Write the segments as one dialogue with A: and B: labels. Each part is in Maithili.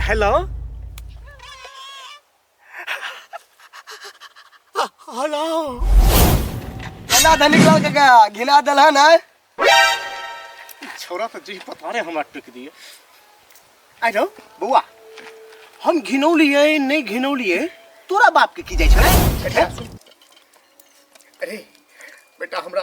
A: हेलो हेलो
B: केना धनी निकल के गया घिना दल है ना छोरा
A: तो जी पता नहीं हमरा टिक दिए आई नो बउआ हम घिनौलिए नहीं घिनौलिए तोरा बाप के की जाय छै अरे बेटा हमरा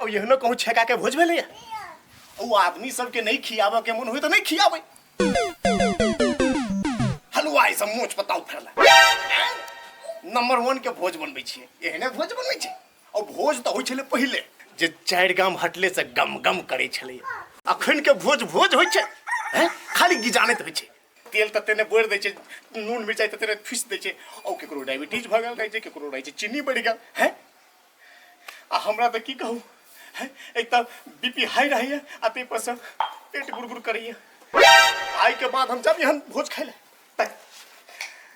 A: अब एहनो कहूँ छेका के भोज भेलैया ओ आदमी सबके नहीं खियाबऽ के मन होई तो नहीं खियाबै हलवाई सब मोच बताउ फेरला नंबर वन के भोज बनबै छियै एहने भोज बनबै छै और भोज तऽ होइ छलै पहिले जे चारि गाम हटले से गम गम करै छलै अखन के भोज भोज होइ छै हैं? खाली गिजानैत होइ छै तेल तऽ तेने बोरि दै छै नून मिरचाइ तऽ तेने फीस दै छै ओ ककरो डायबिटीज भऽ गेल रहै छै ककरो रहै छै चीनी बढ़ि गेल है आ हमरा तऽ की कहू है एक तऽ बी पी हाई रहैए आ ताहिपर सँ पेट गुड़गुड़ करैए आइके बाद हम जब एहन भोज खाइ लए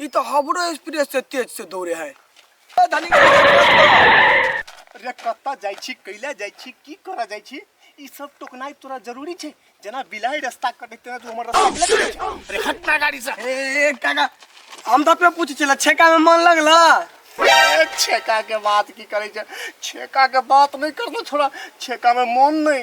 B: ई तऽ हमरो एक्सप्रेस से तेज से दौड़े है ए धनी के बस बस बस।
A: रे कत्ता जाइ छी कैला जाइ छी की करऽ जाइ छी ई सब टोकनाइ तोरा जरूरी छै जेना बिलाइ रास्ता कटे तेना तू हमर रास्ता बिलाइ कटे छै। अरे हट ना गाड़ी से ए ए, काका
B: हम तऽ अपने पूछे छला छेका में मन लगला ए,
A: छेका के बात की करै छै छेका के बात नहि करना छोड़ा छेका में मन नहि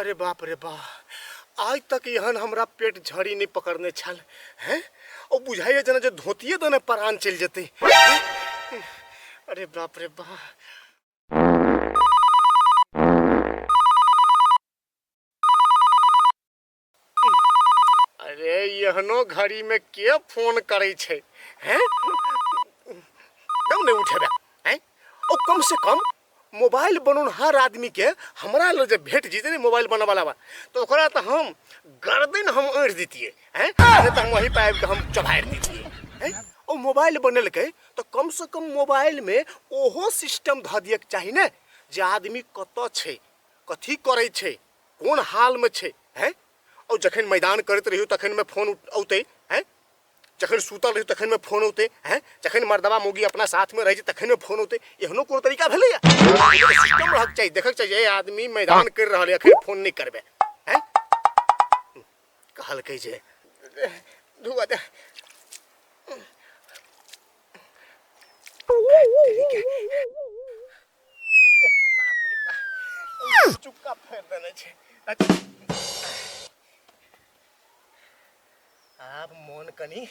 A: अरे बाप रे बा आइ तक एहन हमरा पेट झड़ी नहि पकड़ने छल हैं ओ बुझाइए जेना जे धोतिए दने परान चलि जेतै हैं? अरे बाप रे बा अरे एहनो घड़ी में के फोन करे छे हैं एकदम नहीं उठेबे हैं ओ कम से कम मोबाइल बनौनहार आदमी के हमरा लग जे भेट जीते ने मोबाइल बनने वाला बा तो ओकरा तो हम गर्दन हम अड़ दीतिए हैं अरे तो हम वहीं पे आबि के हम चबाड़ दीतिए हैं ओ मोबाइल बनलकै तो कम से कम मोबाइल में ओहो सिस्टम धऽ दियके चाही ने जे आदमी कतऽ छै कथी करै छै कोन हालमे छै हैं और जखन मैदान करैत रहियो तखनमे फोन औतै हैं जखन सुतल रहियो तखनमे फोन औतै हैं जखन मर्दबा मौगी अपना साथमे रहै छै तखनमे फोन औतै एहनो कोनो तरीका भेलैए सिस्टम रहक चाही देखक चाही जे आदमी मैदान करि रहल यऽ अखन फोन नहि करबै हैं कहलकै जे धुआ दे आब मन कनी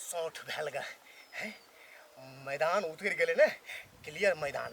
A: सौठ भेल गा हैं? मैदान उतरि गेलै ने क्लियर मैदान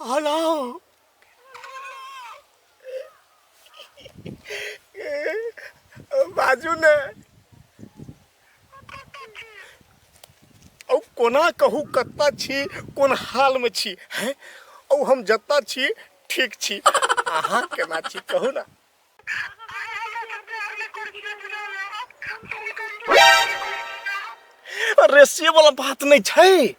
A: Anam. बाजू ने औ कोना कहू कत्ता छी कोन हाल में छी हैं औ हम जत्ता छी ठीक छी अहाँ केना छी कहू ना अरे से वाला बात नहीं छै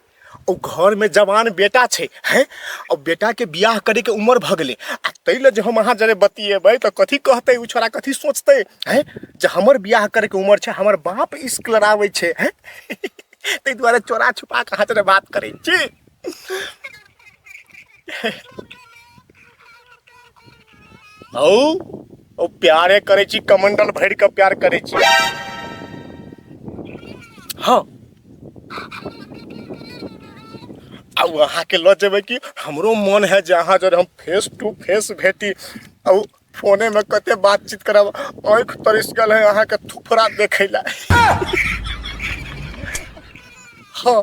A: ओ घर में जवान बेटा छै हैं और बेटा के बियाह करे के उम्र भ गेले आ तै ल जे हम अहाँ जरे बतिएबै त कथी कहतै उ छोरा कथी सोचतै हैं जे हमर बियाह करे के उम्र छै हमर बाप इश्क लड़ाबै छै हैं तै दुआरे चोरा छुपा के अहाँ जरे बात करै छी औ ओ प्यारे करै छी कमंडल भरि कऽ प्यार करै छी हँ आ ओ अहाँके लऽ जेबै कि हमरो मोन है जे अहाँ जर हम फेस टू फेस भेटी आ ओ फोनेमे कते बातचीत करब आँखि तरसि गेल है अहाँके थुफड़ा देखै लए हँ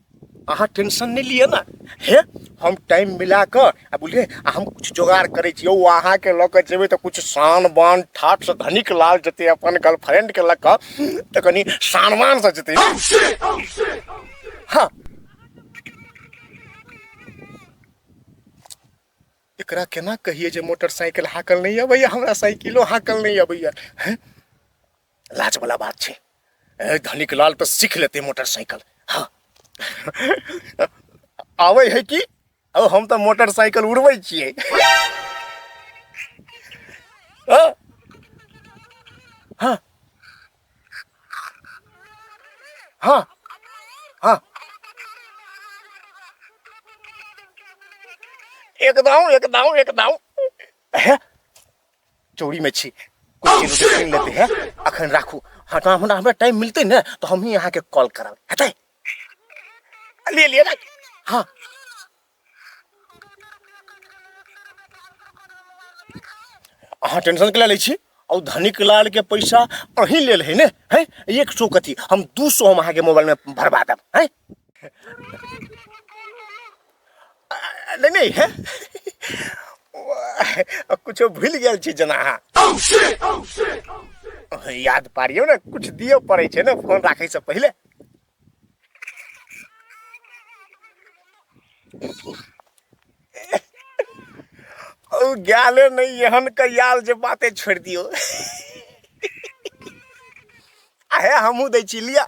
A: अहाँ टेंशन नहीं लिए ना हे हम टाइम मिला कर आ बोलिए हम कुछ जोगाड़ करे छी ओ अहाँ के लऽ कऽ जेबै तऽ कुछ शान बान ठाट से धनिक लाल जते अपन गर्लफ्रेंड के लऽ कऽ तऽ कनी शानवान से जते हाँ एकरा केना कहिए जे मोटरसाइकिल हाकल नहीं अबैया हमरा साइकिलो हाकल नहीं अबैया हैं लाज वाला बात छै ए धनिक लाल तो सीख लेते मोटरसाइकिल हाँ आवे है कि ओ हम तो मोटरसाइकिल उड़बै छियै हाँ हाँ हाँ हाँ एकदम एकदम एकदम है चोरी में छी कुछ oh, चीज छीन लेते हैं अखन राखू हाँ तो हमरा हमरा टाइम मिलते ना तो हम ही यहाँ के कॉल करब हेतै ले लिए ना हाँ अहाँ टेंशन के लै छी और धनिक लाल के पैसा अही ले है ने है एक सौ कथी हम दू सौ हम अहाँ के मोबाइल में भरवा देब है नहि नहि हे किछो भूलि गेल छी जेना अहाँ याद पारियौ ने किछु दियौ पड़ै छै ने फोन राखैसँ पहिले ओ गाले नहीं एहन के याल जे बाते छोड़ दियो अहे हमू दै छी लिया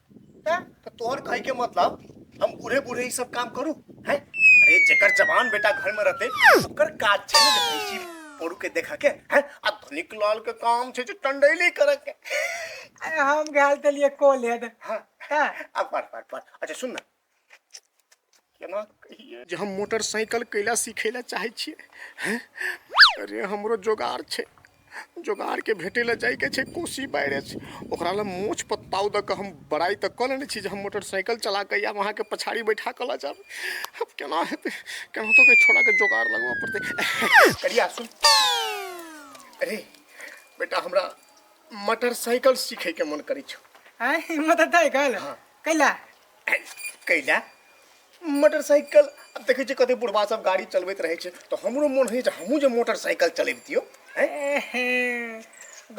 C: त तो तोहर कहे के
A: मतलब हम बूढ़े बूढ़े ई सब काम करू हैं अरे जेकर जवान बेटा घर में रहते ओकर काज छै ने जे भैंसी पोरू के देखा के हैं आ धनिक लाल के काम छै जे टंडैली करे के अरे हम
C: गए तलिए कॉलेज हाँ हाँ
A: अब पढ़
C: पढ़
A: पढ़ अच्छा सुन ना केना कहिए जे हम मोटरसाइकिल कैला सीखे ला चाहे छिए हैं? अरे हमरो जोगाड़ छै जोगाड़ के भेटे ला जाय के छै कोसी बैरेज ओकरा ला मोछ पत्ताव द के हम बड़ाई तक कऽ लेने छी जे हम मोटरसाइकिल चला के या वहाँ के पछाड़ी बैठा के ला जाब अब केना हेतै केना तो के छोड़ा के जोगाड़ लगवा पड़तै करिया सुन अरे बेटा हमरा मोटरसाइकिल सीखे के मन करै छौ आय हिम्मत हतै
C: कल कैला
A: कैला मोटरसाइकिल अब देखै छियै कते बुढ़बा सब गाड़ी चलबैत रहै छै तऽ हमरो मोन होइए जे हमहूँ जे मोटरसाइकिल चलैबतियौ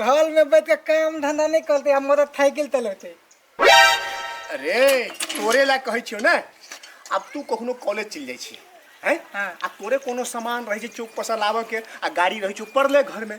C: घर में बैठ के काम धंधा नहीं करते हम मोटरसाइकिल चलते अरे
A: तोरे लए कहै छियौ ने आब तू कखनो कॉलेज चलि जाइ छी हैं हाँ। आ तोरे कोनो
C: सामान
A: रहै छै चौक पर से लाबऽ के आ गाड़ी रहै छौ पड़ले घर में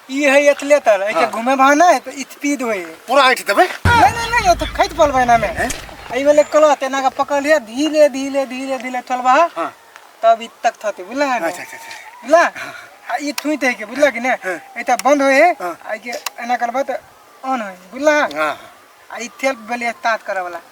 A: ई
C: है एतले तर एके घूमे भाव ना है तो इतपीद होए पूरा ऐठ देबै नहीं
A: नहीं नहीं तो खैत
C: पलबै ना में एहि वाले कलो तेना का पकड़ लिया धीरे धीरे धीरे धीरे चलबा हाँ। तब
A: इत तक
C: थते बुझला है ना? अच्छा अच्छा अच्छा
A: बुझला
C: आ ई थुइत है के बुझला कि ना हाँ। एता बंद होए है हाँ। आ के एना करबा तो ऑन होए बुझला हाँ
A: आ ई तेल
C: बेले स्टार्ट करे वाला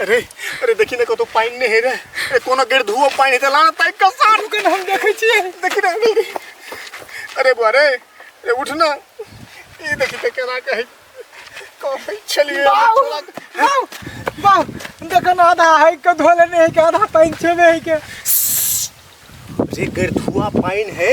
A: अरे अरे देखी ना कतौ पानि नहि हे रे अरे कोनो गेट धुओ पानि हेतै लाना ताकि कऽ सार रुकै हम देखै छियै
C: देखी ना
A: अरे बुआ रे अरे उठ ना ई देखी तऽ केना कहै कहै छलियै बाउ, हमरा छोड़ा-
C: बाउ, बाउ, देखो ना आधा है के धोले नहीं है के आधा पानी छेबे है के
A: रे गेट धुआ पानि है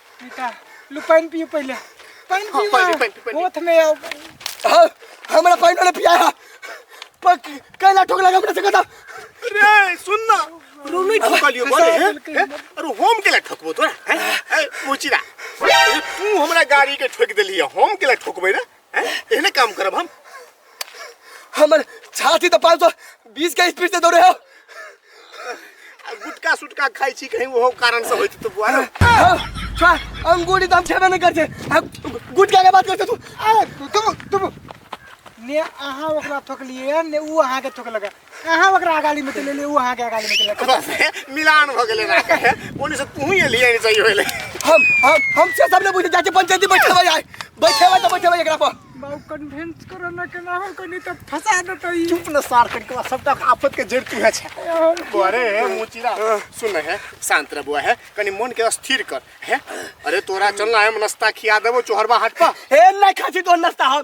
A: बेटा
C: लू पानि पियो पहिले पानि हाँ, पियो पानि, पानि, पानि।
A: होठ में
C: आओ हाँ,
B: हमरा पानी वाले पिया है पर कैला ठोक लगा हमरा से कदा रे सुन
A: ना रो नहीं ठोकलियो बोले हैं? बिल्कुल। हैं? अरे होम के लिए ठोकबो तोरा हैं? ए, मुचिरा ए, तू हमरा गाड़ी के ठोक देली है होम के लिए ठोकबे रे हैं? एहने काम करब हम
B: हमर छाती तो पाँच सौ बीस के स्पीड से दौड़े हो आ गुटका
A: सुटका खाइ छी कहीं ओहो कारण से होइत तो बुआ रे। हाँ,
B: छा, अंगूरी तो हम छेबे नहीं करते हाँ, गुटखा के बात करते तू अरे तुम तुम
C: ने अहाँ ओकरा ठोकलिए ने ऊ अहाँके ठोकलक अहाँ ओकरा गाली में चले ले वो अहाँ के गाली में चले बस हे, मिलान भ
A: गेलै ना कहे ओनी से तू ही एलियै नै सही होइले हम हम हम
B: से सब ने बुझे जाके पंचायती बैठेबै आइ बैठेबै त बैठेबै एकरा पर बाबू कन्वेंस
C: करो ना के ना हो कनी तो फंसा देतो ई चुप न सार कर के
A: सबटा आफत के जड़ तू है छै अरे हे मुचिरा सुन हे शांत रह बुआ हे कनी मन के स्थिर कर हे अरे तोरा चलना है नाश्ता खिया देबो चोहरबा हाट पर हे नहीं खाची तो
B: नाश्ता हम